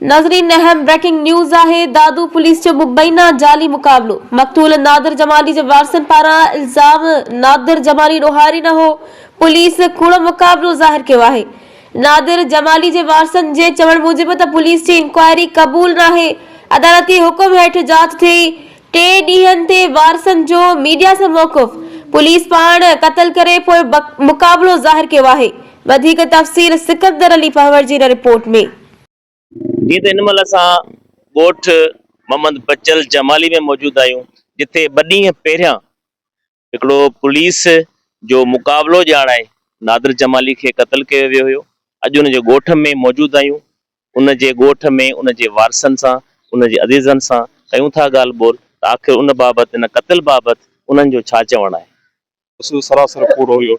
ناظرين اهم breaking news آهي دادو پوليس جو مبينا جعلي مقابلو مقتول نادر جمالي جي وارثن پاران الزام نادر جمالي ڏوهاري نه هو پوليس ڪوڙو مقابلو ظاهر ڪيو آهي نادر جمالي جي وارثن جي چوڻ موجب ته پوليس جي انڪوائري قبول ناهي، عدالتي حڪم هيٺ جاچ ٿئي، ٽي ڏينهن تي وارثن جو ميڊيا سان موقف، پوليس پاڻ قتل ڪري پوء مقابلو ظاهر ڪيو آهي، وڌيڪ تفصيل سڪندر علي پنهور جي هن رپورٽ ۾. جيئن ته هن مهل اسان ڳوٺ محمد بچل جمالي ۾ موجود آهيون جتي ٻه ڏينهن پهريان هڪڙو پوليس جو مقابلو ڄاڻائي نادر جمالي کي قتل ڪيو ويو هيو، اڄ ان جي ڳوٺ ۾ موجود آهيون، ان جي ڳوٺ ۾ ان جي وارثن سان، ان جي عزيزن سان ڪيون ٿا ڳالهه ٻولهه ته آخر ان بابت ان قتل بابت انهن جو ڇا چوڻ آهي. اصل سراسر ڪوڙو هيو،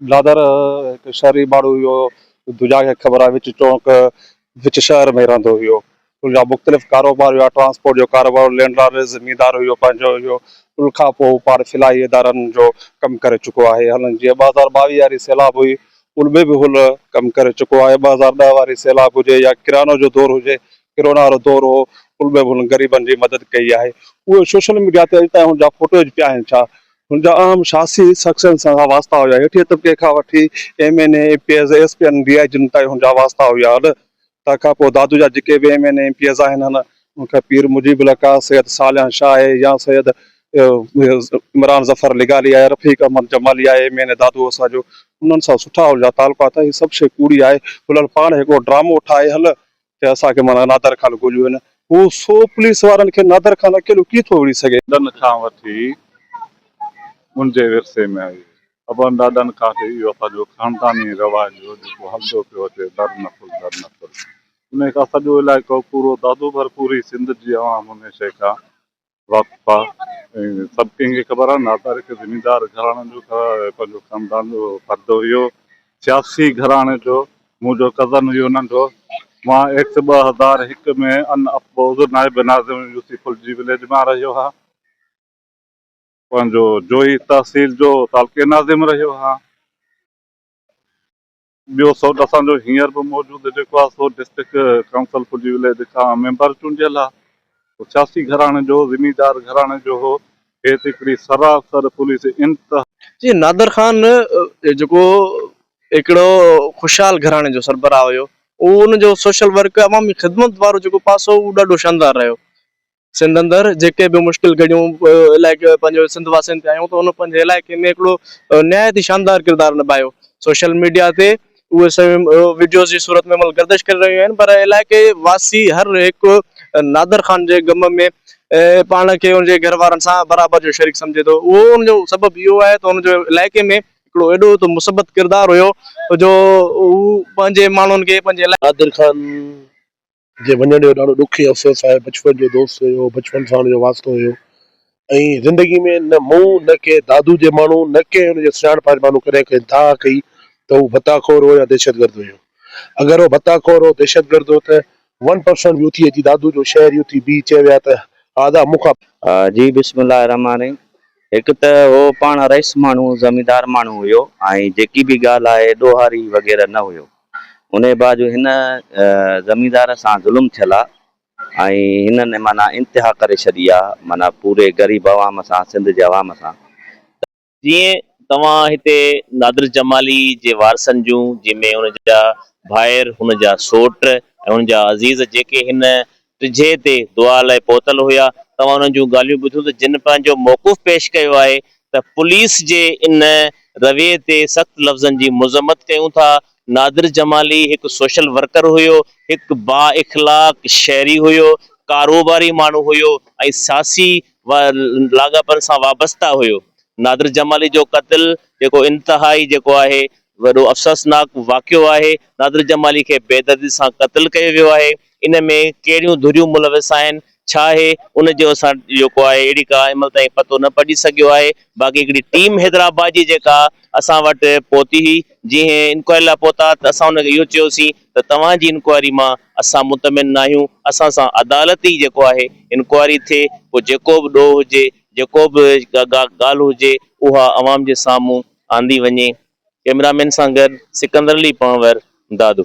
بلادر هڪ شهري ماڻهو هيو، دنيا کي خبر آهي وچ چونڪ وچ شهر ۾ رهندو هيو. ان جا مختلف ڪاروبار هيا، ٽرانسپورٽ جو ڪاروبار هيو، لينڊ لارڊ رهيس، زميندار هيو، پنهنجو هيو. ان کان پوء هو پاڻ فلاحي ادارن جو ڪم ڪري چڪو آهي. هن جيئن ٻه هزار ٻاويهه واري سيلاب هئي، ان ۾ به هن ڪم ڪري چڪو آهي. ٻه هزار ڏهه واري سيلاب هجي يا ڪرانو جو دور هجي، ڪرونا وارو دور هو، ان ۾ به هن غريبن جي مدد ڪئي آهي. اهي سوشل ميڊيا تي اڄ تائين هن جا فوٽوز پيا آهن ڇا؟ هن جا اهم سياسي شخصين سان واسطا هيا. هيٺئين طبقي کان وٺي M N A, M P As, S P ۽ D I G تائين هن جا واسطا هيا. اڏ تر کان پوء دادو جا جيڪي به M N A, M P As آهن، هن کي پير مجيب لقا، سيد صالح شاهه اي يا سيد عمران ظفر لغاري آهي، رفيق احمد جمالي آهي، ايم اين اي دادو اسان جو، انهن سان سٺا هن جا تعلقات آهن. هي سڀ شيء ڪوڙي آهي. هلل پاڻ هڪڙو ڊرامو ٺاهي هل، تي اسان کي معنيٰ نادر خان گوليو هن هو سو پوليس وارن کي نادر خان اڪيلو ڪيئن ٿو وڙهي سگهي. ڏن کان وٺي ان جي ورثي ۾ آئي ابن ڏاڏن کان وٺي اهو اسان جو خانداني رواج هو جيڪو هلندو پيو اچي در نسل در نسل انهي کان سڄو علائقو پورو دادو ڀرپوري سنڌ جي عوام انهي شيء کان واقف آ ۽ سڀ ڪنهن کي خبر آ نادر هڪ زميندار گهراڻي جو پنهنجو خاندان جو فرد هيو سياسي گهراڻي جو منهنجو ڪزن هيو ننڍو مان ايڪٽ ٻه هزار هڪ ۾ ان اپوز نائب ناظم يوسي فلجي وليج مان رهيو ها پنهنجو جوهي تحصيل جو تعلقي ناظم رهيو ها. ٻيو سوٽ اسان جو هينئر به موجود جيڪو آهي سو ڊسٽرڪٽ ڪائونسل پنڊي وليج کان ميمبر چونڊيل آهي هو سياسي گهراڻي جو زميندار گهراڻي جو هو هيت هڪڙي سراسر پوليس انتها. جي نادر خان جيڪو هڪڙو خوشحال گهراڻي جو سربراهه هيو ان جو سوشل ورڪ عوامي خدمت وارو جيڪو پاسو هو ڏاڍو شاندار رهيو سنڌ اندر جيڪي به مشڪل گهڙيون علائقي پنهنجو سنڌ واسين تي آيون ته ان پنهنجي علائقي ۾ هڪڙو نهايت ئي شاندار ڪردار نڀايو سوشل ميڊيا تي اهي سوين وڊيوز جي صورت ۾ مطلب گردش ڪري رهيون آهن پر علائقي واسي هر هڪ نادر خان جي غم ۾ پاڻ کي ان جي گهر وارن سان برابر جو شريڪ سمجهي ٿو اهو ان جو سبب اهو آهي ته ان جو علائقي ۾ هڪڙو اهڙو ته مثبت ڪردار هيو جو هو پنهنجي ماڻهن کي پنهنجي نادر خان جي وڃڻ جو ڏاڍو ڏک ۽ افسوس آهي، بچپن جو دوست هيو، بچپن سان هن جو واسطو هيو ۽ زندگي ۾ نه مون نه ڪنهن دادو جي ماڻهو نه ڪنهن هن جي سڃاڻپ واري ماڻهو ڪڏهن ڪنهن داء ڪئي ته هو ڀتا خور هو يا دهشت گرد هيو. اگر هو ڀتا خور هو دهشت گرد هو ته ون پرسنٽ به اٿي اچي دادو جو شهري اٿي بيهي چئي ويا ته آدا مون کان جي بسم الله الرحمٰن الرحيم هڪ ته هو پاڻ رئيس ماڻهو زميندار ماڻهو هيو ۽ جيڪي به ڳالهه آهي ڏوهاري وغيره نه هيو انهيء بعد جو هن زميندار سان ظلم ٿيل آ ۽ هنن معنيٰ انتها ڪري ڇڏي آ معنيٰ پوري غريب عوام سان سنڌ جي عوام سان ته جيئن توهان هتي نادر جمالي جي وارثن جون جنهن ۾ هن جا ڀائر هن جا سوٽ ۽ هن جا عزيز جيڪي هن ڊجهي تي دعا لئي پهتل هيا توهان انهن جون ڳالهيون ٻڌيون ته جن پنهنجو موقف پيش ڪيو آهي ته پوليس جي ان رويي تي سخت لفظن جي مذمت ڪيون ٿا نادر جمالي هڪ سوشل ورڪر هيو هڪ با اخلاق شهري هيو ڪاروباري ماڻهو هيو ۽ سياسي لاڳاپن سان وابسته هيو نادر جمالي جو قتل جيڪو انتهائي جيڪو آهي وڏو افسوسناڪ واقعو آهي نادر جمالي کي بيدردي سان قتل ڪيو ويو آهي. ان ۾ ڪهڙيون ڌريون ملوث آهن، ڇا آهي ان جو اسان جيڪو آهي اهڙي ڪا هن مهل تائين پتو نه پئجي سگهيو آهي، باقي هڪڙي ٽيم حيدرآباد جي جيڪا اسان وٽ پهتي هئي، جنهن انڪوائري لاء پهتا ته اسان ان کي اهو چيوسين ته توهان جي انڪوائري مان اسان مطمئن ناهيون، اسان سان عدالت ئي جيڪو آهي انڪوائري ٿئي، پوء جيڪو به ڏوهه هجي، جيڪو به ڳالهه هجي اها عوام جي سامهون آندي وڃي. ڪئميرا مين سان گڏ سڪندر علي پنهور، دادو.